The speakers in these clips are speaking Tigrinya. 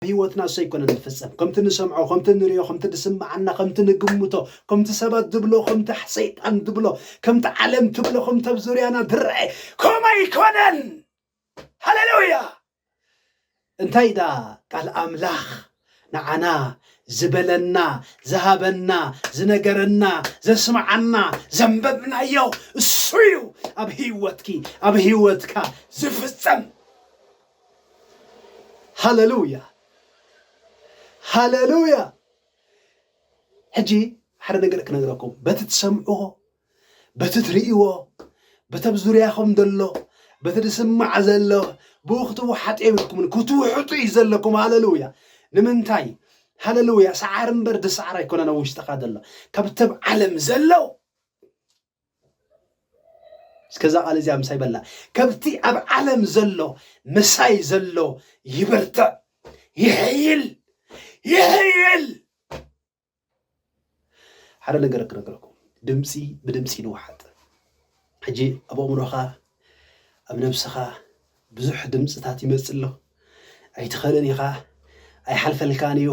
ኣብ ህይወትና እሱ ኣይኮነን ዝፍጸም ከምቲ ንሰምዖ ከምቲ ንሪኦ ከምቲ ድስምዓና ከምቲ ንግምቶ ከምቲ ሰባት ድብሎ ከምቲ ሰይጣን ድብሎ ከምቲ ዓለም ትብሎ ከምቲ ኣብ ዙርያና ድረአ ከምኡ ኣይኮነን ሃሌሉያ እንታይ ደኣ ቃል ኣምላኽ ንዓና ዝበለና ዝሃበና ዝነገረና ዘስምዓና ዘንበብናዮ እሱ እዩ ኣብ ህይወትኪ ኣብ ህይወትካ ዝፍጸም ሃለሉያ ሃለሉያ ሕጂ ሓደ ነገር ክነግረኩም በቲ ትሰምዕዎ በቲ ትርእይዎ በቲ ኣብ ዙርያኹም ዘሎ በቲ ዝስማዕ ዘሎ ብኡ ክትወሓጡ የብልኩምን ክትውሕጡ እዩ ዘለኩም ሃለሉያ ንምንታይ ሃለሉያ ሰዓር እምበር ድሰዓር ኣይኮነን ኣብ ውሽጥኻ ዘሎ ካብቶም ዓለም ዘለው እስከዛ ቃል እዚኣ ምሳይ በላ ከብቲ ኣብ ዓለም ዘሎ ምሳይ ዘሎ ይበርትዕ ይሕይል ይሕይል ሓደ ነገር ክነገረኩም ድምፂ ብድምፂ ንውሓጥ ሕጂ ኣብ ኣእምሮኻ ኣብ ነብስኻ ብዙሕ ድምጽታት ይመጽእ ኣሎ። ኣይትኸልን ኢኻ፣ ኣይሓልፈልካን እዩ፣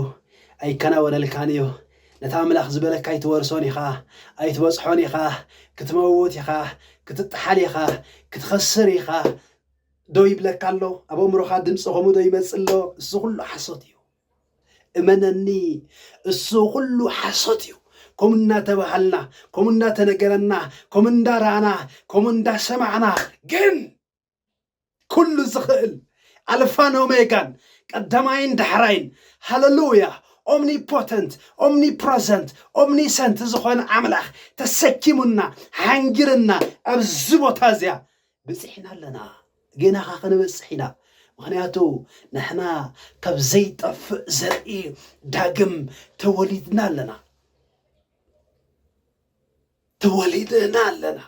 ኣይከናወነልካን እዩ፣ ነቲ ኣምላኽ ዝበለካ ኣይትወርሶን ኢኻ፣ ኣይትበጽሖን ኢኻ፣ ክትመውት ኢኻ፣ ክትጠሓል ኢኻ፣ ክትኸስር ኢኻ ዶ ይብለካ ኣሎ? ኣብ ኣእምሮኻ ድምጺ ከምኡ ዶ ይመጽእ ኣሎ? እዚ ኩሉ ሓሶት እዩ። እመነኒ እሱ ኩሉ ሓሶት እዩ ከምኡ እናተባሃልና ከምኡ እናተነገረና ከምኡ እንዳረኣና ከምኡ እንዳሰማዕና ግን ኩሉ ዝኽእል ኣልፋን ኦሜጋን ቀዳማይን ዳሕራይን ሃለሉያ ኦምኒፖተንት ኦምኒፕረዘንት ኦምኒሰንት ዝኾነ ኣምላኽ ተሰኪሙና ሓንጊርና ኣብዚ ቦታ እዚኣ በጺሕና ኣለና ገና ከኣ ክንበጽሕ ኢና ምክንያቱ ንሕና ካብ ዘይጠፍእ ዘርኢ ዳግም ተወሊድና ኣለና ተወሊድና ኣለና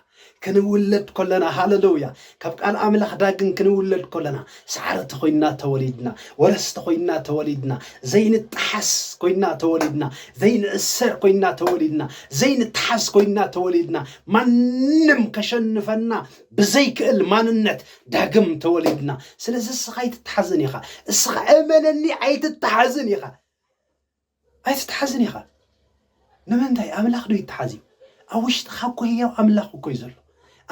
ክንውለድ ኮለና ሃለሉያ ካብ ቃል ኣምላኽ ዳግም ክንውለድ ኮለና ሳዕርቲ ኮይንና ተወሊድና፣ ወረስቲ ኮይንና ተወሊድና፣ ዘይንጠሓስ ኮይንና ተወሊድና፣ ዘይንእሰር ኮይንና ተወሊድና፣ ዘይንተሓዝ ኮይንና ተወሊድና፣ ማንም ከሸንፈና ብዘይክእል ማንነት ዳግም ተወሊድና። ስለዚ እስኻ ኣይትተሓዝን ኢኻ፣ እስኻ እመነኒ ኣይትተሓዝን ኢኻ። ኣይትትሓዝን ኢኻ ንምንታይ ኣምላኽ ዶ ይትሓዝ እዩ ኣብ ውሽጥኻ እኮ ህያው ኣምላኽ እኮ እዩ ዘሎ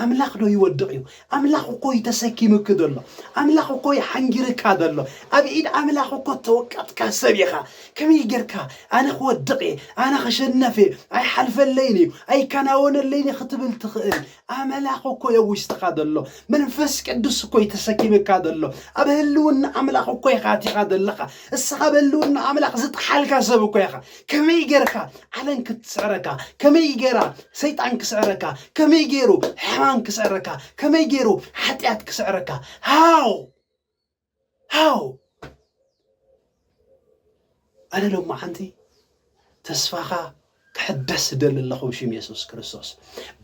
ኣምላኽ ዶ ይወድቕ እዩ ኣምላኽ እኮ እዩ ተሰኪምክ ዘሎ ኣምላኽ እኮ እዩ ሓንጊርካ ዘሎ ኣብ ኢድ ኣምላኽ እኮ ተወቀጥካ ሰብ ኢኻ ከመይ ጌርካ ኣነ ክወድቕ እየ ኣነ ክሸነፍ እየ ኣይሓልፈለይን እዩ ኣይከናወነለይን ክትብል ትኽእል ኣመላኽ እኮ እዮ ውሽጥኻ ዘሎ መንፈስ ቅዱስ እኮ እዩ ተሰኪምካ ዘሎ ኣብ ህልውና ኣምላኽ እኮ ኢኻ ኣቲኻ ዘለኻ እስኻ ኣብ ህልውና ኣምላኽ ዝጠሓልካ ሰብ እኮ ኢኻ ከመይ ጌርካ ዓለም ክትስዕረካ ከመይ ጌራ ሰይጣን ክስዕረካ ከመይ ገይሩ ሕማም ክስዕረካ ከመይ ገይሩ ሓጢኣት ክስዕረካ ሃው ሃው ኣነ ሎማዓንቲ ተስፋኻ ክሕደስ ዝደሊ ኣለኹ ብሽም የሱስ ክርስቶስ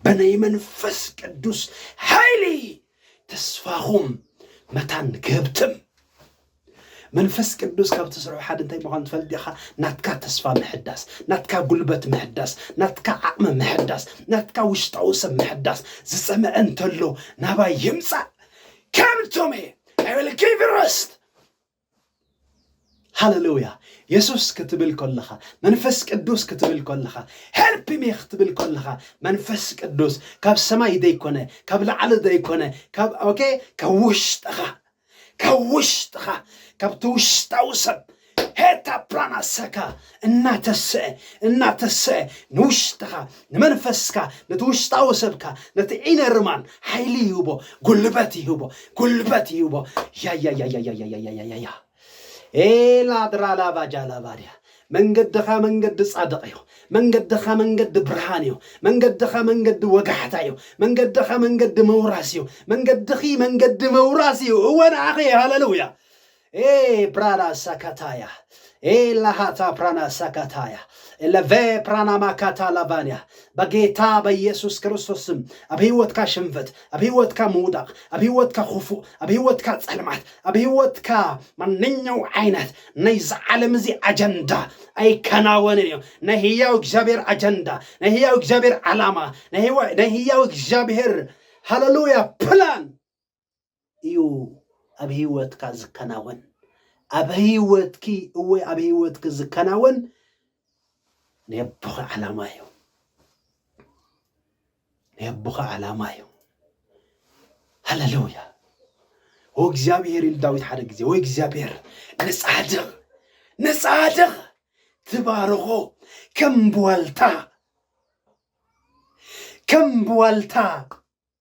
ብናይ መንፈስ ቅዱስ ሓይሊ ተስፋኹም መታን ክህብትም መንፈስ ቅዱስ ካብ ትስርሑ ሓደ እንታይ ምዃኑ ትፈልጥ ዲኻ ናትካ ተስፋ ምሕዳስ ናትካ ጉልበት ምሕዳስ ናትካ ዓቕሚ ምሕዳስ ናትካ ውሽጣዊ ሰብ ምሕዳስ ዝፀመዐ እንተሎ ናባይ ይምፃእ ከምቶም እየ I will give you rest ሃለሉያ የሱስ ክትብል ከለኻ መንፈስ ቅዱስ ክትብል ከለኻ ሄልፕ ሚ ክትብል ከለኻ መንፈስ ቅዱስ ካብ ሰማይ ዘይኮነ ካብ ላዕሊ ዘይኮነ ካብ ኦኬ ካብ ውሽጥኻ ካብ ውሽጥኻ ካብቲ ውሽጣዊ ሰብ ሄታ ፕላን ኣሰካ እናተሰኤ እናተሰኤ ንውሽጥኻ ንመንፈስካ ነቲ ውሽጣዊ ሰብካ ነቲ ኢነር ማን ሓይሊ ይህቦ ጉልበት ይህቦ ጉልበት ይህቦ ያያያያያያያያያያ ኤላድራላቫጃላቫድያ መንገድኻ መንገዲ ጻድቕ እዩ መንገድኻ መንገዲ ብርሃን እዩ መንገድኻ መንገዲ ወጋሕታ እዩ መንገድኻ መንገዲ መውራስ እዩ መንገድኺ መንገዲ መውራስ እዩ እወ ንዓኺ ሃለሉያ Ee prana sakataya. Ee ላሃታ ፕራና ሳካታያ ኤለቬ ፕራና ማካታ ላቫንያ በጌታ በኢየሱስ ክርስቶስ ስም ኣብ ህይወትካ ሽንፈት ኣብ ህይወትካ ምውዳቕ ኣብ ህይወትካ ክፉእ ኣብ ህይወትካ ጸልማት ኣብ ህይወትካ ማንኛው ዓይነት ናይ ዝዓለም እዚ ኣጀንዳ ኣይከናወንን እዩ ናይ ህያው እግዚኣብሔር ኣጀንዳ ናይ ህያው እግዚኣብሔር ዓላማ ናይ ህያው እግዚኣብሔር ሃለሉያ ፕላን እዩ ኣብ ህይወትካ ዝከናወን ኣብ ህይወትኪ እወ ኣብ ህይወትኪ ዝከናወን ናይ ኣቦኺ ዓላማ እዩ ናይ ኣቦኺ ዓላማ እዩ ሃለሉያ ኦ እግዚኣብሔር ኢሉ ዳዊት ሓደ ግዜ ወይ እግዚኣብሔር ንጻድቕ ንጻድቕ ትባርኾ ከም ብዋልታ ከም ብዋልታ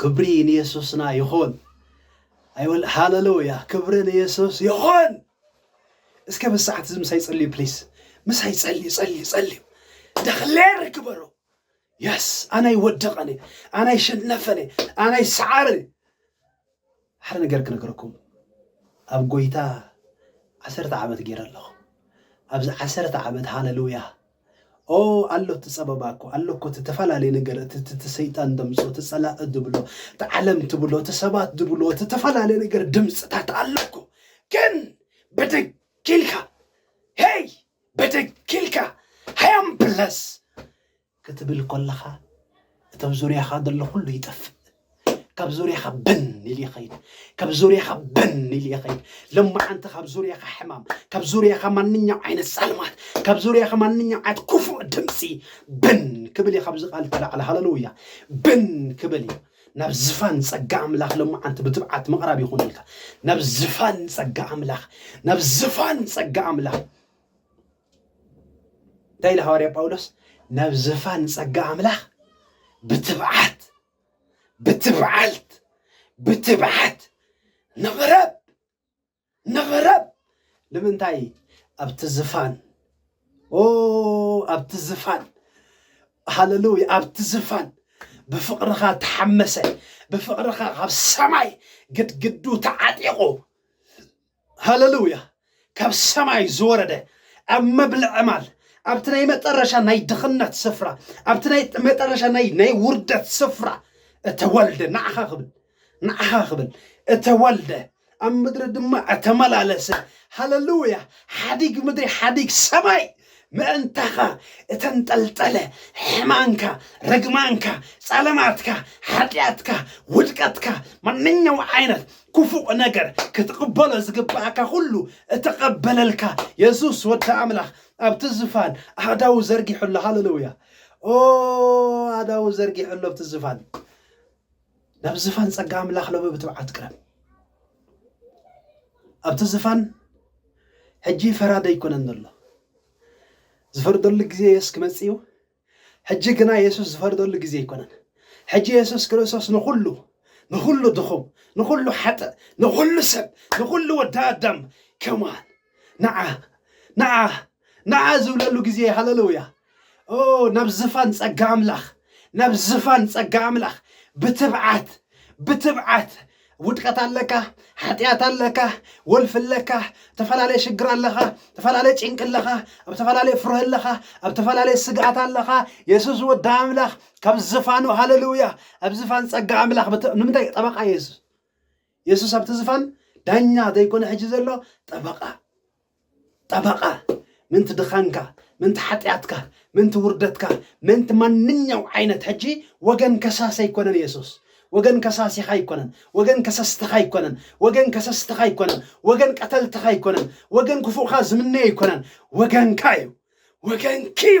ክብሪ ንየሱስና ይኹን ኣይወል ሃለሉያ ክብሪ ንየሱስ ይኹን እስከ ብሰዓት እዚ ምሳይ ጸልዩ ፕሊስ ምሳይ ጸልዩ ጸልዩ ጸልዩ ደክሌር ግበሩ የስ ኣናይ ወደቐኒ ኣናይ ሸነፈኒ ኣናይ ሰዓርኒ ሓደ ነገር ክነግረኩም ኣብ ጎይታ ዓሰርተ ዓመት ጌረ ኣለኹ ኣብዚ ዓሰርተ ዓመት ሃለሉያ ኦ ኣሎ እቲ ጸበባ እኮ ኣሎ እኮ እቲ ተፈላለየ ነገር እቲ እቲ- እቲ ሰይጣን ደምጾ እቲ ጸላእ ድብሎ እቲ ዓለም ትብሎ እቲ ሰባት ድብሎ እቲ ተፈላለየ ነገር ድምፅታት ኣሎ እኮ ግን ብድግ ኢልካ ሄይ ብድግ ኢልካ ሃያም ብለስ ክትብል ኮለኻ እቶም ዙርያኻ ዘሎ ኩሉ ይጠፍእ ካብ ዙርያኻ ብን ኢሉ ይኸይድ ካብ ዙርያኻ ብን ኢሉ ይኸይድ ለማዓንቲ ካብ ዙርያኻ ሕማም ካብ ዙርያኻ ማንኛው ዓይነት ዛልማት ካብ ዙርያኻ ማንኛው ዓይነት ክፉእ ድምፂ ብን ክብል እዩ ካብዚ ቃል ተላዕለ ሃለሉያ ብን ክብል እዩ ናብ ዝፋን ጸጋ ኣምላኽ ለማዓንቲ ብትብዓት ምቕራብ ይኹን ኢልካ ናብ ዝፋን ጸጋ ኣምላኽ ናብ ዝፋን ጸጋ ኣምላኽ እንታይ ኢሉ ሃዋርያ ጳውሎስ ናብ ዘፋን ጸጋ ኣምላኽ ብትብዓት ብትብዓልት ብትብዓት ንቕረብ ንቕረብ ንምንታይ ኣብቲ ዝፋን ኦ ኣብቲ ዝፋን ሃለሉያ ኣብቲ ዝፋን ብፍቕርኻ ተሓመሰ ብፍቕርኻ ካብ ሰማይ ግድግዱ ተዓጢቑ ሃለሉያ ካብ ሰማይ ዝወረደ ኣብ መብልዕ ማል ኣብቲ ናይ መጠረሻ ናይ ድኽነት ስፍራ ኣብቲ ናይ መጠረሻ ናይ ናይ ውርደት ስፍራ እተወልደ ንዓኻ ክብል ንዓኻ ክብል እተወልደ ኣብ ምድሪ ድማ እተመላለሰ ሃለሉያ ሓዲግ ምድሪ ሓዲግ ሰማይ ምእንታኻ እተንጠልጠለ ሕማንካ፣ ርግማንካ፣ ጸለማትካ፣ ሓጢኣትካ፣ ውድቀትካ፣ ማንኛውም ዓይነት ክፉእ ነገር ክትቕበሎ ዝግባኣካ ኩሉ እተቐበለልካ የሱስ ወዲ ኣምላኽ ኣብቲ ዝፋን ኣእዳው ዘርጊሑ ኣሎ። ሃለሉያ! ኦ ኣእዳው ዘርጊሑ ኣሎ ኣብቲ ዝፋን ናብ ዝፋን ጸጋ ኣምላኽ ሎሚ ብትብዓት ቅረብ። ኣብቲ ዝፋን ሕጂ ፈራዲ ኣይኮነን ዘሎ። ዝፈርደሉ ግዜ የሱስ ክመጽእ እዩ። ሕጂ ግና የሱስ ዝፈርደሉ ግዜ ኣይኮነን። ሕጂ የሱስ ክርስቶስ ንኹሉ ንኹሉ ድኹም ንኹሉ ሓጥእ ንኹሉ ሰብ ንኹሉ ወዲ ኣዳም ከማን ንዓ ንዓ ንዓ ዝብለሉ ግዜ ሃለሉያ ኦ ናብ ዝፋን ጸጋ ኣምላኽ ናብ ዝፋን ጸጋ ኣምላኽ ብትብዓት ብትብዓት ውድቀት ኣለካ ሓጢኣት ኣለካ ወልፊ ኣለካ ዝተፈላለየ ሽግር ኣለኻ ዝተፈላለየ ጭንቂ ኣለኻ ኣብ ዝተፈላለየ ፍርህ ኣለኻ ኣብ ዝተፈላለየ ስግኣት ኣለኻ የሱስ ወዲ ኣምላኽ ካብ ዝፋኑ ሃለሉያ ኣብ ዝፋን ጸጋ ኣምላኽ ብት- ንምንታይ ጠበቃ የሱስ የሱስ ኣብቲ ዝፋን ዳኛ ዘይኮነ ሕጂ ዘሎ ጠበቃ ጠበቓ ምንቲ ድኻንካ፣ ምንቲ ሓጢኣትካ፣ ምንቲ ውርደትካ፣ ምንቲ ማንኛው ዓይነት ሕጂ ወገን ከሳሲ ኣይኮነን የሱስ። ወገን ከሳሲኻ ኣይኮነን፣ ወገን ከሰስትኻ ኣይኮነን፣ ወገን ከሰስትኻ ኣይኮነን፣ ወገን ቀተልትኻ ኣይኮነን፣ ወገን ክፉእኻ ዝምነዮ ኣይኮነን፣ ወገንካ እዩ፣ ወገንኪ እዩ።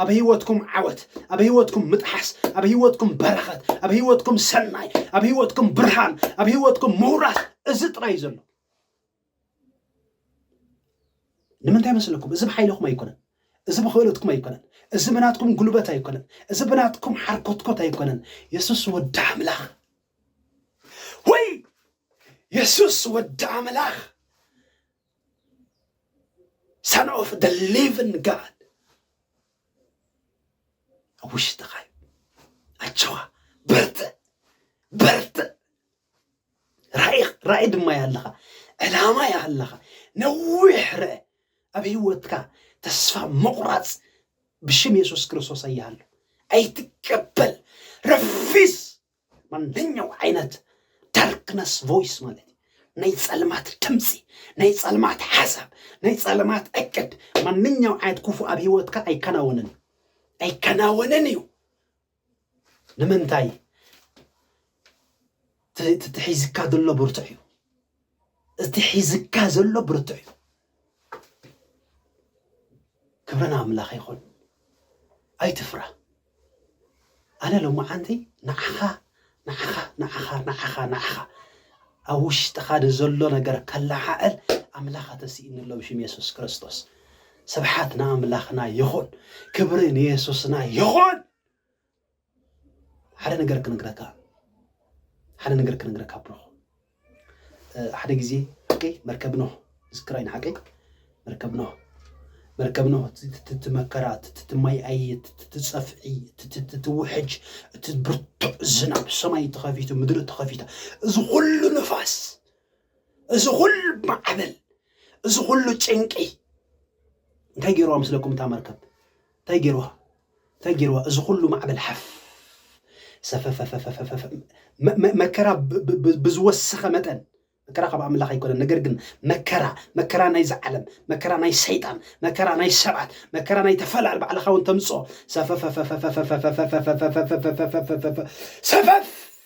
ኣብ ህይወትኩም ዓወት፣ ኣብ ህይወትኩም ምጥሓስ፣ ኣብ ህይወትኩም በረኸት፣ ኣብ ህይወትኩም ሰናይ፣ ኣብ ህይወትኩም ብርሃን፣ ኣብ ህይወትኩም ምውራስ እዚ ጥራይ ዘሎ ንምንታይ መስለኩም? እዚ ብሓይልኹም ኣይኮነን፣ እዚ ብክእለትኩም ኣይኮነን፣ እዚ ብናትኩም ጉልበት ኣይኮነን፣ እዚ ብናትኩም ሓርኮትኮት ኣይኮነን። የሱስ ወዲ ኣምላኽ ወይ የሱስ ወዲ ኣምላኽ ሰን ኦፍ ደ ሊቭን ጋድ ኣብ ውሽጥኻ እዩ ኣቸዋ በርትዕ በርትዕ ራእይ ራእይ ድማ እያ ኣለኻ ዕላማ እያ ኣለኻ ነዊሕ ርአ ኣብ ህይወትካ ተስፋ ምቑራፅ ብሽም የሱስ ክርስቶስ እያሃሉ ኣይትቀበል ረፊስ ማንኛው ዓይነት ዳርክነስ ቮይስ ማለት እዩ ናይ ጸልማት ድምፂ ናይ ጸልማት ሓሳብ ናይ ጸልማት ዕቅድ ማንኛው ዓይነት ክፉ ኣብ ሂወትካ ኣይከናወንን እዩ ኣይከናወንን እዩ ንምንታይ እቲ ሒዝካ ዘሎ ብርቱዕ እዩ እቲ ሒዝካ ዘሎ ብርቱዕ እዩ ክብሪ ንኣምላኽ ይኹን ኣይትፍራ ኣነ ሎማዓንቲ ንዓኻ ንዓኻ ንዓኻ ንዓኻ ንዓኻ ኣብ ውሽጥኻ ንዘሎ ነገር ከለዓዕል ኣምላኽ ተስኢኑ ኣሎ ብሽም የሱስ ክርስቶስ ስብሓት ንኣምላኽና ይኹን ክብሪ ንየሱስና ይኹን ሓደ ነገር ክነግረካ ሓደ ነገር ክነግረካ ብሩኽ ሓደ ግዜ ሓቀይ መርከብ ኖህ ዝክራይ ንሓቀይ መርከብ ኖህ መርከብ ኖህ ትትመከራ ትትማይ ኣየ ትትጸፍዒ ትትውሕጅ እቲ ብርቱዕ ዝናብ ሰማይ ተኸፊቱ ምድሪ ተኸፊታ እዚ ኩሉ ንፋስ እዚ ኩሉ ማዕበል እዚ ኩሉ ጭንቂ እንታይ ገይርዋ ምስለኩም እታ መርከብ እንታይ ገይርዋ እንታይ ገይርዋ እዚ ኩሉ ማዕበል ሓፍ ሰፈፈፈፈፈፈ መከራ ብዝወሰኸ መጠን መከራ ካብ ኣምላኽ ኣይኮነን ነገር ግን መከራ መከራ ናይዚ ዓለም መከራ ናይ ሰይጣን መከራ ናይ ሰባት መከራ ናይ ተፈላል ባዕልኻ እውን ተምፅኦ ሰፈፈፈ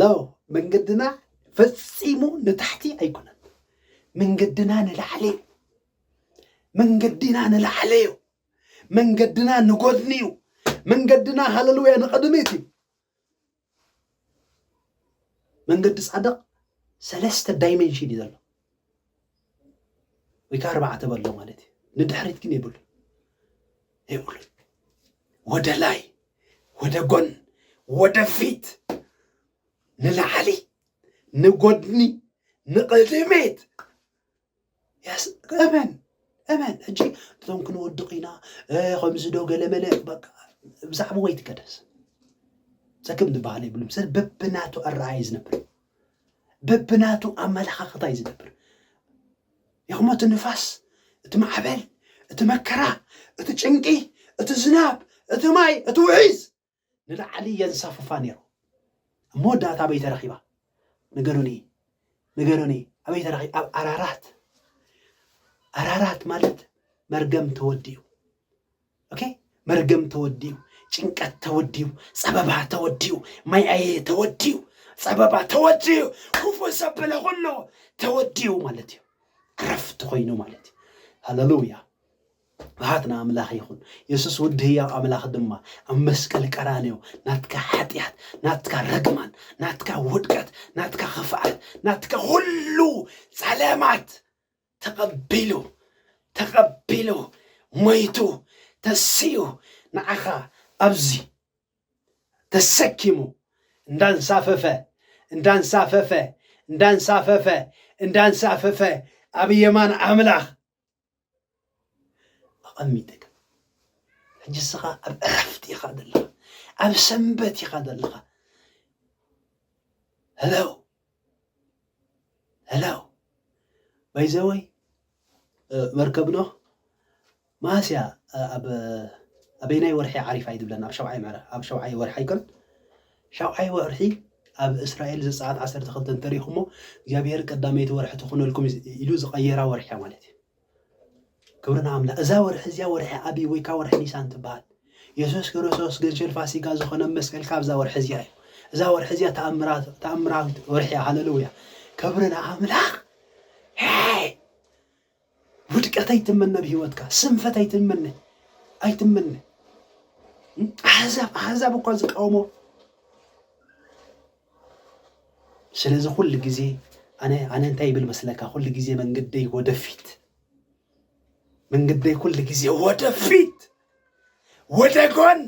ሎ መንገድና ፈጺሙ ንታሕቲ ኣይኮነን መንገድና ንላዕሊ እዩ መንገድና ንላዕሊ እዩ መንገድና ንጎድኒ እዩ መንገድና ሃለሉያ ንቕድሚት እዩ መንገዲ ጻድቕ ሰለስተ ዳይሜንሽን እዩ ዘሎ ወይ ከዓ ኣርባዕተ በሎ ማለት እዩ ንድሕሪት ግን የብሉ የብሉ ወደ ላይ ወደ ጎን ወደ ፊት ንላዕሊ ንጎድኒ ንቅድሚት ያስ እመን እመን ሕጂ እቶም ክንወድቕ ኢና ከምዚ ዶ ገለመለ በቃ ብዛዕባ ወይ ትገደስ ዘክም ዝበሃል የብሉም ሰብ በብናቱ ኣረኣየ ዝነብር በብናቱ ኣመለኻኽታ እዩ ዝነብር ይኹሞ እቲ ንፋስ እቲ ማዕበል እቲ መከራ እቲ ጭንቂ እቲ ዝናብ እቲ ማይ እቲ ውሒዝ ንላዕሊ የንሳፍፋ ነይሩ ኣብ መወዳእታ ኣበይ ተረኺባ ንገሩኒ ንገሩኒ ኣበይ ተረኺ ኣብ ኣራራት ኣራራት ማለት መርገም ተወዲኡ ኦኬ መርገም ተወዲኡ፣ ጭንቀት ተወዲኡ፣ ጸበባ ተወዲኡ፣ ማይ ኣየ ተወዲኡ፣ ጸበባ ተወዲኡ፣ ክፉእ ዘበለ ኩሉ ተወዲኡ ማለት እዩ። ዕረፍቲ ኮይኑ ማለት እዩ። ሃለሉያ ብሃት ንኣምላኽ ይኹን የሱስ ውዲ ህያው ኣምላኽ ድማ ኣብ መስቀል ቀራንዮ ናትካ ሓጢኣት ናትካ ረግማን ናትካ ውድቀት ናትካ ኽፍኣት ናትካ ዅሉ ጸለማት ተቐቢሉ ተቐቢሉ ሞይቱ ተሲኡ ንዓኻ ኣብዚ ተሰኪሙ እንዳንሳፈፈ እንዳንሳፈፈ እንዳንሳፈፈ እንዳንሳፈፈ ኣብ የማን ኣምላኽ ኣቐሚጥካ ሕጂ እስኻ ኣብ ዕረፍቲ ኢኻ ዘለኻ ኣብ ሰንበት ኢኻ ዘለኻ ሄሎ ሄሎ ባይዘወይ መርከብ ኖህ መዓስ እያ ኣብ ኣበይናይ ወርሒ ዓሪፋ እዩ ዝብለና ኣብ ሸውዓይ ምዕራፍ ኣብ ሸውዓይ ወርሒ ኣይኮን ሸውዓይ ወርሒ ኣብ እስራኤል ዘፀኣት ዓሰርተ ክልተ እንተሪኢኹሞ እግዚኣብሄር ቀዳመይቲ ወርሒ ትኾነልኩም ኢሉ ዝቐየራ ወርሒ ማለት እዩ ክብሪ ንኣምላኽ እዛ ወርሒ እዚኣ ወርሒ ኣቢብ ወይ ከዓ ወርሒ ኒሳን ትበሃል የሱስ ክርስቶስ ገንሸል ፋሲጋ ዝኾነ መስቀል ካብዛ ወርሒ እዚኣ እዩ እዛ ወርሒ እዚኣ ተኣምራዊት ወርሒ እያ ሃለሉያ ክብሪ ንኣምላኽ ውድቀት ኣይትመነ ኣብ ህይወትካ ስንፈት ኣይትመነ ኣይትመነ ኣሕዛብ ኣሕዛብ እኳ ዝቃወሞ ስለዚ ኩሉ ግዜ ኣነ ኣነ እንታይ ይብል መስለካ ኩሉ ግዜ መንገደይ ወደፊት መንገደይ ኩሉ ግዜ ወደፊት ወደ ጎን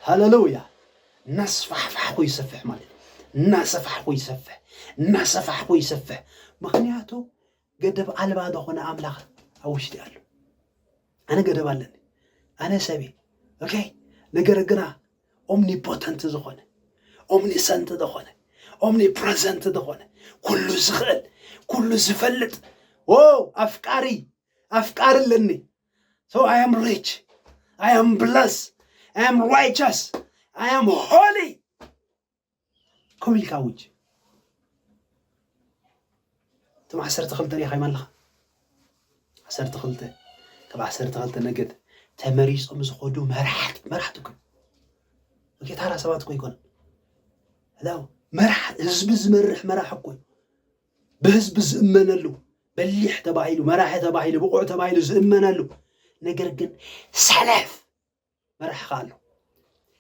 ሃለሉያ እናስፋሕፋሕኩ ይሰፍሕ ማለት እናሰፋሕኩ ይሰፍሕ እናሰፋሕኩ ይሰፍሕ ምክንያቱ ገደብ ኣልባ ዝኾነ ኣምላኽ ኣብ ውሽጢ ኣሎ። ኣነ ገደብ ኣለኒ፣ ኣነ ሰብ እየ። ኦኬ ነገር ግና ኦምኒፖተንት ዝኾነ ኦምኒሰንት ዝኾነ ኦምኒፕረዘንት ዝኾነ ኩሉ ዝኽእል ኩሉ ዝፈልጥ ዎ ኣፍቃሪ ኣፍቃሪ ኣለኒ ሶ ኣይ ኣም ሪች ኣይ ኣም ብለስ ኣይ ኣም ራይቸስ ኣይ ኣም ሆሊ ከምኡ ኢልካ ኣውጅ። እቶም ዓሰርተ ክልተ ሪኢኻዮም ኣለኻ? ዓሰርተ ክልተ ካብ ዓሰርተ ክልተ ነገድ ተመሪጾም ዝኸዱ መራሕቲ መራሕቲ እኮ ኦኬ፣ ታራ ሰባት እኮ ይኮን ላው መራሕ ህዝቢ ዝመርሕ መራሕ እኮ ብህዝቢ ዝእመነሉ በሊሕ ተባሂሉ መራሒ ተባሂሉ ብቑዕ ተባሂሉ ዝእመነሉ ነገር ግን ሰነፍ መራሕኻ ኣሎ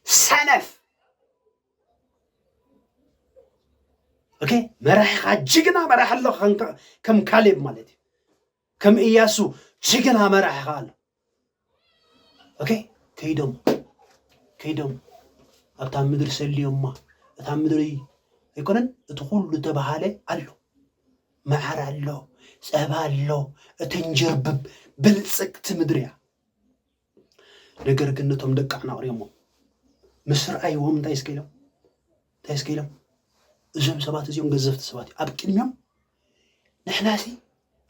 ሰነፍ ኦኬ መራሕኻ ጅግና መራሕ ኣሎ ከም ካሌብ ማለት እዩ ከም እያሱ ጅግና መራሕኻ ኣሎ ኦኬ ከይዶም ከይዶም ኣብታ ምድሪ ሰልዮማ እታ ምድሪ ኣይኮነን እቲ ኩሉ ተባሃለ ኣሎ መዓር ኣሎ ጸባ ኣሎ እትንጀርብብ ብልጽግቲ ምድሪ እያ ነገር ግን ነቶም ደቂ ኣናቕርዮሞ ምስ ረኣይዎም እንታይ እስከ ኢሎም እንታይ እስከ ኢሎም እዞም ሰባት እዚኦም ገዘፍቲ ሰባት እዩ ኣብ ቅድሚኦም ንሕና ሲ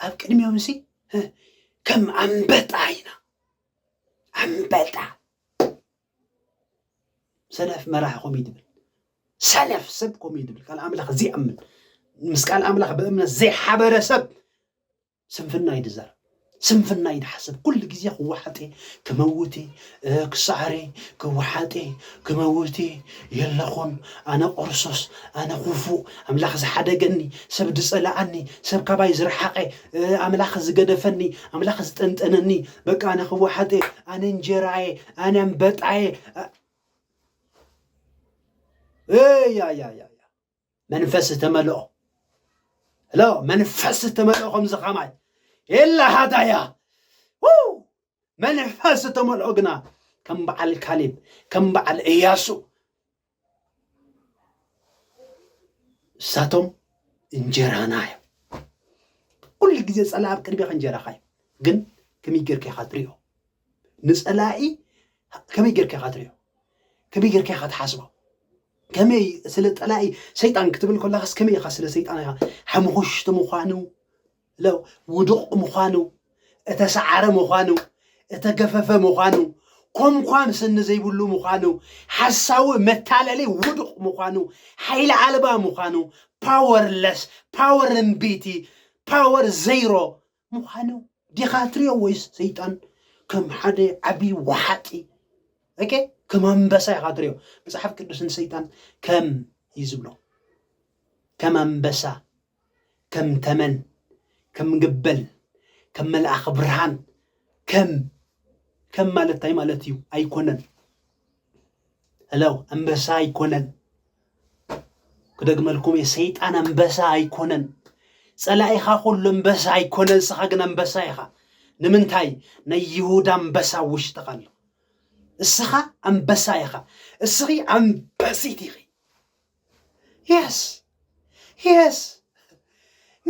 ኣብ ቅድሚኦም ሲ ከም ኣንበጣ ኢና ኣንበጣ ሰነፍ መራሒ ኮም ትብል ሰነፍ ሰብ ኮም ትብል ቃል ኣምላኽ ዘይኣምን ምስ ቃል ኣምላኽ ብእምነት ዘይሓበረ ሰብ ስንፍና እዩ ድዛረብ ስንፍና እዩ ድሓስብ ኩሉ ግዜ ክወሓጥ እየ ክመውት እየ ክሰዓር እየ ክወሓጥ እየ ክመውት እየ የለኹን ኣነ ቆርሶስ ኣነ ኩፉእ ኣምላኽ ዝሓደገኒ ሰብ ዝጸላኣኒ ሰብ ካባይ ዝረሓቐ ኣምላኽ ዝገደፈኒ ኣምላኽ ዝጠንጠነኒ በቃ ኣነ ክወሓጥ እየ ኣነ እንጀራ እየ ኣነ ኣንበጣ እየ እያያያያ መንፈስ ዝተመልኦ ሎ መንፈስ ዝተመልኦ ከምዚ ከማይ የላ ሃዳያ መንፈስ ዝተመልኦ ግና ከም በዓል ካሊብ ከም በዓል እያሱ እሳቶም እንጀራና እዮም ኩሉ ግዜ ፀላእ ኣብ ቅድሜኻ እንጀራኻ እዩ ግን ከመይ ጌርካ ኢኻ ትሪኦ ንጸላኢ ከመይ ጌርካ ኢኻ ትሪኦ ከመይ ጌርካ ኢኻ ትሓስቦ ከመይ ስለ ጠላኢ ሰይጣን ክትብል ከለኻስ ከመይ ኢኻ ስለ ሰይጣን ኢኻ ሓምኹሽቲ ምዃኑ ለው ውዱቕ ምዃኑ እተሰዓረ ምዃኑ እተገፈፈ ምዃኑ ኮምኳን ስኒ ዘይብሉ ምዃኑ ሓሳዊ መታለሊ ውዱቕ ምዃኑ ሓይሊ ኣልባ ምዃኑ ፓወርለስ ፓወር እምቢቲ ፓወር ዘይሮ ምዃኑ ዲኻ ትሪኦ ወይስ ሰይጣን ከም ሓደ ዓብዪ ወሓጢ ኦኬ ከም ኣንበሳ ኢኻ ትሪኦ መፅሓፍ ቅዱስ ንሰይጣን ከም እዩ ዝብሎ ከም ኣንበሳ ከም ተመን ከም ገበል ከም መልኣኽ ብርሃን ከም ከም ማለት እንታይ ማለት እዩ ኣይኮነን እለው ኣንበሳ ኣይኮነን ክደግመልኩም እየ ሰይጣን ኣንበሳ ኣይኮነን ፀላኢኻ ኩሉ ኣንበሳ ኣይኮነን ንስኻ ግን ኣንበሳ ኢኻ ንምንታይ ናይ ይሁዳ ኣንበሳ ውሽጥኻ ኣሎ እስኻ ኣንበሳ ኢኻ እስኺ ኣንበሲት ኢኺ የስ የስ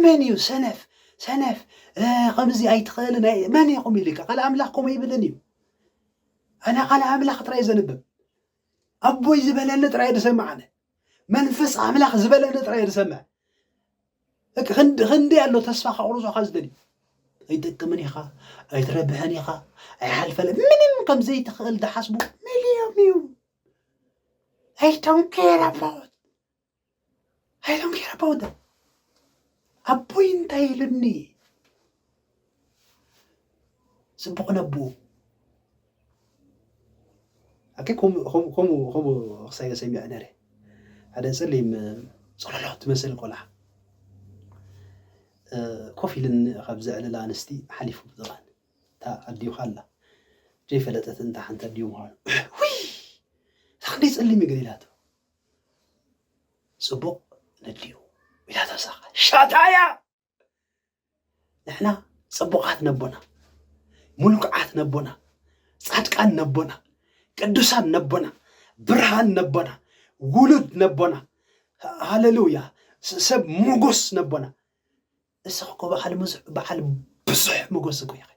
መን እዩ ሰነፍ ሰነፍ ከምዚ ኣይትኽእልን መን ኢኹም ኢሉ ቃል ኣምላኽ ከምኡ ይብልን እዩ ኣነ ቃል ኣምላኽ ጥራይ ዘንብብ ኣቦይ ዝበለኒ ጥራይ ዝሰምዕ ኣነ መንፈስ ኣምላኽ ዝበለኒ ጥራይ ዝሰምዕ ክንደይ ኣሎ ተስፋ ከቑርጾኻ ዝደልዩ ኣይጠቅምን ኢኻ ኣይትረብሕን ኢኻ ኣይሓልፈለ ምንም ከም ዘይትኽእል ዝሓስቡ ሚልዮም እዮም ኣይ ዶንት ኬር ኣባውት I don't care about them. ኣቦይ እንታይ ኢሉኒ ፅቡቕ ነቡ ኣከ ከምኡ ክሳይ ሰሚዐ ነረ ሓደ ፀሊም ፀሎሎ ትመስል ቆልዓ ኮፍ ኢልን ካብ ዘዕልላ ኣንስቲ ሓሊፉ ብጥቓን እታ ኣዲኡ ካላ ዘይፈለጠት እንታ ሓንቲ ኣዲኡ ምዃኑ እታ ክንደይ ፀሊም እዩ ገሊላቶ ፅቡቕ ነድልዩ ኢላ ተሳኸ ሻታያ ንሕና ፅቡቓት ነቦና ሙልኩዓት ነቦና ፃድቃን ነቦና ቅዱሳን ነቦና ብርሃን ነቦና ውሉድ ነቦና ሃለሉያ ሰብ ሞጎስ ነቦና እስኽ እኮ በዓል ሙዙሕ በዓል ብዙሕ መጎስ እኮ ኢኺ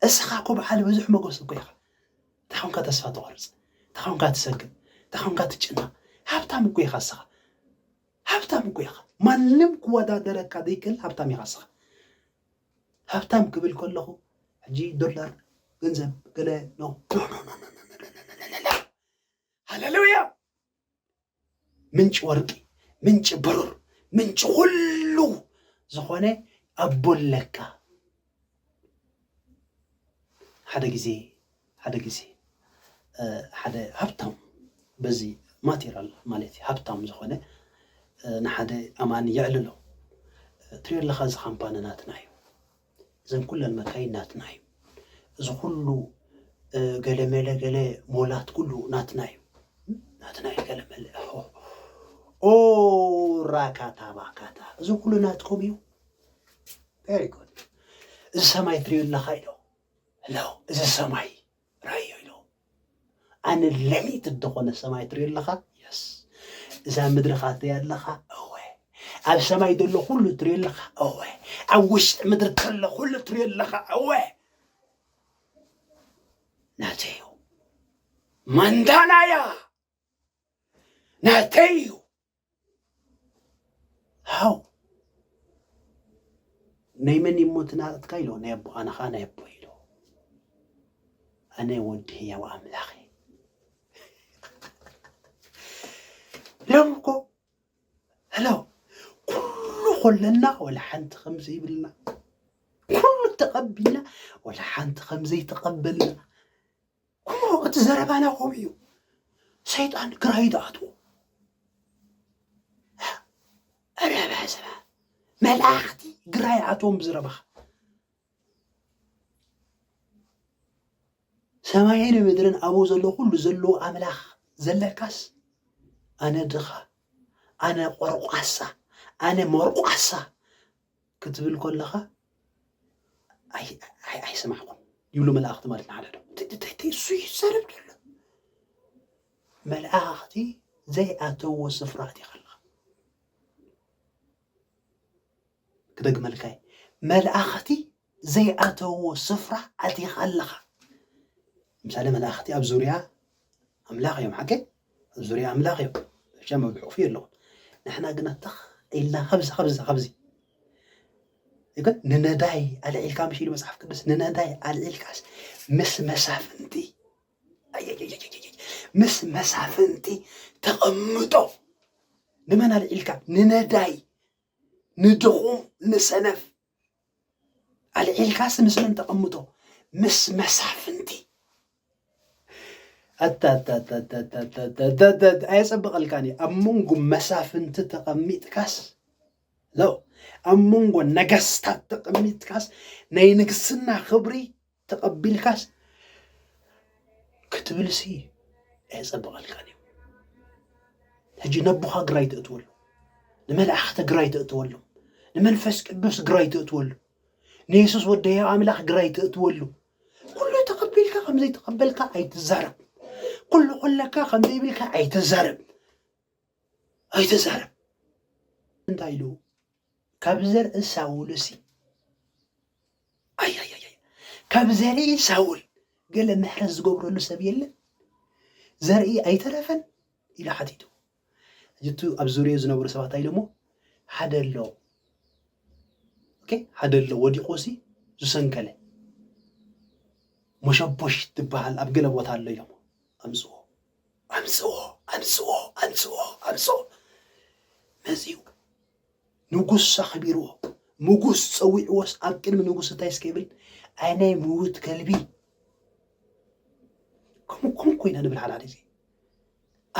እስኻ እኮ በዓል ብዙሕ መጎስ እኮ ኢኻ እንታይ ኮንካ ተስፋ ትቆርጽ እንታይ ኮንካ ትሰግእ እንታይ ኮንካ ትጭነቕ ሃብታም እኮ ኢኻ እስኻ ሃብታም እኮ ኢኻ ማንም ክወዳደረካ ዘይክእል ሃብታም ኢኻ እስኻ ሃብታም ክብል ከለኹ ሕጂ ዶላር ገንዘብ ገለ ኖ ሃለሉያ ምንጪ ወርቂ ምንጪ ብሩር ምንጪ ኩሉ ዝኾነ ኣቦ ኣለካ ሓደ ግዜ ሓደ ግዜ ሓደ ሃብታም በዚ ማቴራል ማለት እዩ ሃብታም ዝኾነ ንሓደ ኣማኒ የዕልሎ ትሪኦ ኣለኻ እዚ ካምፓኒ ናትና እዩ እዘን ኩለን መካይን ናትና እዩ እዚ ኩሉ ገለ መለ ገለ ሞላት ኩሉ ናትና እዩ ናትና እዩ ገለ መለ ኦ ራካታ ባካታ እዚ ኩሉ ናትኩም እዩ ቨሪ ጉድ እዚ ሰማይ ትሪኡ ኣለኻ ኢሎ ሎ እዚ ሰማይ ራዮ ኢሎም ኣነ ለሚት እንተኾነ ሰማይ ትሪኦ ኣለኻ የስ እዛ ምድርኻ ትሪኦ ኣለኻ እወ ኣብ ሰማይ ዘሎ ኩሉ ትሪኦ ኣለኻ እወ ኣብ ውሽጢ ምድሪ ከሎ ኩሉ ትሪኦ ኣለኻ እወ ናተዩ ማንዳናያ ናተዩ ሓው ናይ መን እሞ እቲ ናቕትካ ኢሎ ናይ ኣቦ ኣነ ከዓ ናይ ኣቦ ኢሎ ኣነ ወዲ ህያው ኣምላኽ ሎም እኮ ሄሎ ኩሉ ኮለና ወላ ሓንቲ ከም ዘይብልና ኩሉ ተቐቢልና ወላ ሓንቲ ከም ዘይተቐበልና እሞ እቲ ዘረባና ከምኡ እዩ ሰይጣን ግራይ ዝኣትዎ ረባ ዘባ መላእኽቲ ግራይ ኣትዎም ብዝረባኻ ሰማይን ምድርን ኣብኡ ዘሎ ኩሉ ዘለዎ ኣምላኽ ዘለካስ ኣነ ድኻ ኣነ ቆርቋሳ ኣነ መርቋሳ ክትብል ኮለኻ ኣይሰማዕኩም ይብሉ መላእኽቲ ማለት ንሓደዶ እንታይ እሱ ይዛረብ ደሎ መላእኽቲ ዘይኣተዎ ስፍራ እቲኻ ኣለኻ ክደግመልካ መላእኽቲ ዘይኣተውዎ ስፍራ ኣቲኻ ኣለኻ። ለምሳሌ መላእኽቲ ኣብ ዙርያ ኣምላኽ እዮም ሓቂ ኣብ ዙርያ ኣምላኽ እዮም ብቻ መብሕቑፉ የለኹም ንሕና ግና ተኽ ኢልና ካብዚ ካብዚ ካብዚ ግን ንነዳይ ኣልዒልካ ምሽ ኢሉ መፅሓፍ ቅዱስ ንነዳይ ኣልዒልካስ ምስ መሳፍንቲ ምስ መሳፍንቲ ተቐምጦ ንመን ኣልዒልካ ንነዳይ ንድኹም ንሰነፍ ኣልዒልካስ ምስ መን ተቐምጦ ምስ መሳፍንቲ ኣታታታታታታታታታት ኣየጸብቐልካን እዩ ኣብ መንጎ መሳፍንቲ ተቐሚጥካስ ለው ኣብ መንጎ ነገስታት ተቐሚጥካስ ናይ ንግስና ክብሪ ተቐቢልካስ ክትብልሲ ኣየፀበቐልካን እዩ ሕጂ ነቦኻ ግራይ ተእትወሉ ንመላእኽቲ ግራይ ተእትወሉ ንመንፈስ ቅዱስ ግራይ ተእትወሉ ንየሱስ ወደያ ኣምላኽ ግራይ ተእትወሉ ኩሉ ተቐቢልካ ከምዘይተቐበልካ ኣይትዛረብ ኩሉ ኩለካ ከምዘይብልካ ኣይትዛረብ ኣይተዛረብ እንታይ ኢሉ ካብ ዘርኢ ሳውልሲ ኣያያያ ካብ ዘርኢ ሳውል ገለ ምሕረት ዝገብረሉ ሰብ የለን ዘርኢ ኣይተረፈን ኢሉ ሓቲቱ እጅቱ ኣብ ዙርዮ ዝነበሩ ሰባት ኣይለሞ ሓደ ኣሎ ኦኬ ሓደ ኣሎ ወዲቑሲ ዝሰንከለ መሸቦሽ ትበሃል ኣብ ገለ ቦታ ኣሎ እዮም ኣምፅዎ ኣምጽኦ ኣምጽኦ ኣምጽኦ ኣምጽኦ መጺኡ ንጉስ ኣኽቢርዎ ንጉስ ጸዊዕዎስ ኣብ ቅድሚ ንጉስ እንታይ እስከ ይብል ኣይ ናይ ምውት ከልቢ ከምኡ ከምኡ ኮይና ንብል ሓዳሪ እዚ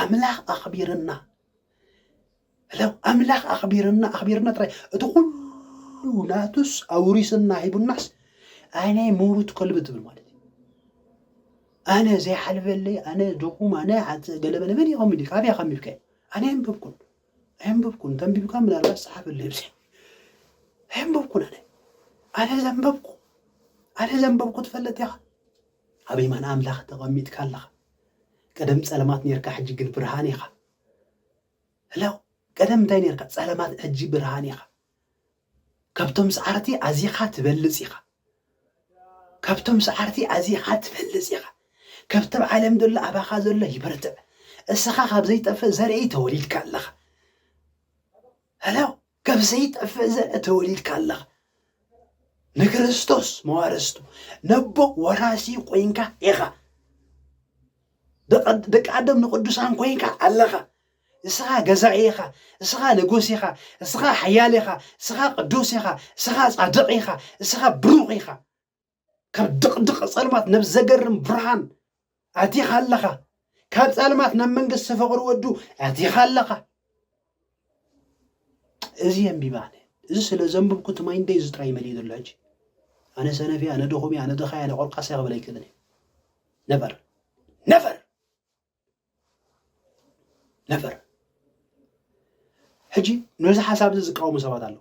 ኣምላኽ ኣኽቢርና ለው ኣምላኽ ኣኽቢርና ኣኽቢርና ጥራይ እቲ ኩሉ ናቱስ ኣውሪስና ሂቡናስ ኣነ ምውት ከልቢ ትብል ማለት እዩ ኣነ ዘይሓልፈለይ ኣነ ድኹም ኣነ ሓፀ ገለመለ መን እዩ ከሚሉ ካበይ ከሚብከ ኣነ የንበብኩን ኣየንበብኩን ተንቢብካ ምናልባት ፀሓፈለይ ብዚ ኣየንበብኩን ኣነ ኣነ ዘንበብኩ ኣነ ዘንበብኩ ትፈልጥ ኢኻ ኣብ የማን ኣምላኽ ተቀሚጥካ ኣለኻ ቀደም ጸለማት ኔርካ ሕጂ ግን ብርሃን ኢኻ ህላው ቀደም እንታይ ኔርካ ጸለማት ሕጂ ብርሃን ኢኻ ካብቶም ሰዓርቲ ኣዚኻ ትበልጽ ኢኻ ካብቶም ሰዓርቲ ኣዚኻ ትበልጽ ኢኻ ከብቲ ዓለም ዘሎ ኣባኻ ዘሎ ይበርትዕ እስኻ ካብ ዘይጠፍእ ዘርኢ ተወሊድካ ኣለኻ ህላው ካብ ዘይጠፍእ ዘርኢ ተወሊድካ ኣለኻ ንክርስቶስ መዋርስቱ ነቦ ወራሲ ኮይንካ ኢኻ ደቃደም ንቅዱሳን ኮይንካ ኣለኻ እስኻ ገዛኢ ኢኻ እስኻ ንጉስ ኢኻ እስኻ ሓያል ኢኻ እስኻ ቅዱስ ኢኻ እስኻ ጻድቕ ኢኻ እስኻ ብሩኽ ኢኻ ካብ ድቕድቕ ጸልማት ናብ ዘገርም ብርሃን ኣቲኻ ኣለኻ ካብ ጸልማት ናብ መንግስቲ ፍቕሪ ወዱ ኣቲኻ ኣለኻ እዚ የንቢባ ኣነ እዚ ስለ ዘንብብኩ እቲ ማይንደይ እዚ ጥራይ መሊኡ ዘሎ ሕጂ ኣነ ሰነፍ እያ ኣነ ድኹም እያ ኣነ ድኻ እያ ኣነ ቆልቃስ እያ ክብል ኣይክእልን እየ ነቨር ነቨር ነፈር ሕጂ ነዚ ሓሳብ እዚ ዝቃወሙ ሰባት ኣለዉ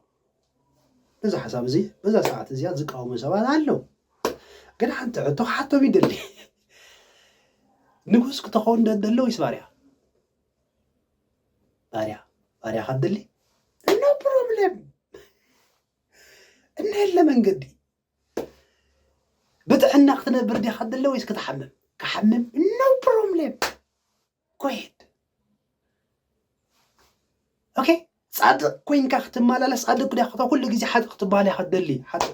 ነዚ ሓሳብ እዚ በዛ ሰዓት እዚኣ ዝቃወሙ ሰባት ኣለዉ ግን ሓንቲ ሕቶ ክሓቶም ይደሊ ንጉስ ክትኸውን ደደሎ ወይስ ባርያ ባርያ ባርያ ካብ ደሊ ኖ ፕሮብለም እነለ መንገዲ ብጥዕና ክትነብር ዲኻ ትደሊ ወይስ ክትሓምም ክሓምም ኖ ፕሮብሌም ኮይድ ኦኬ ጻድቕ ኮይንካ ክትመላለስ ጻድቕ ዲኻ ኩሉ ግዜ ሓጥእ ክትበሃል ኢኻ ትደሊ ሓጥእ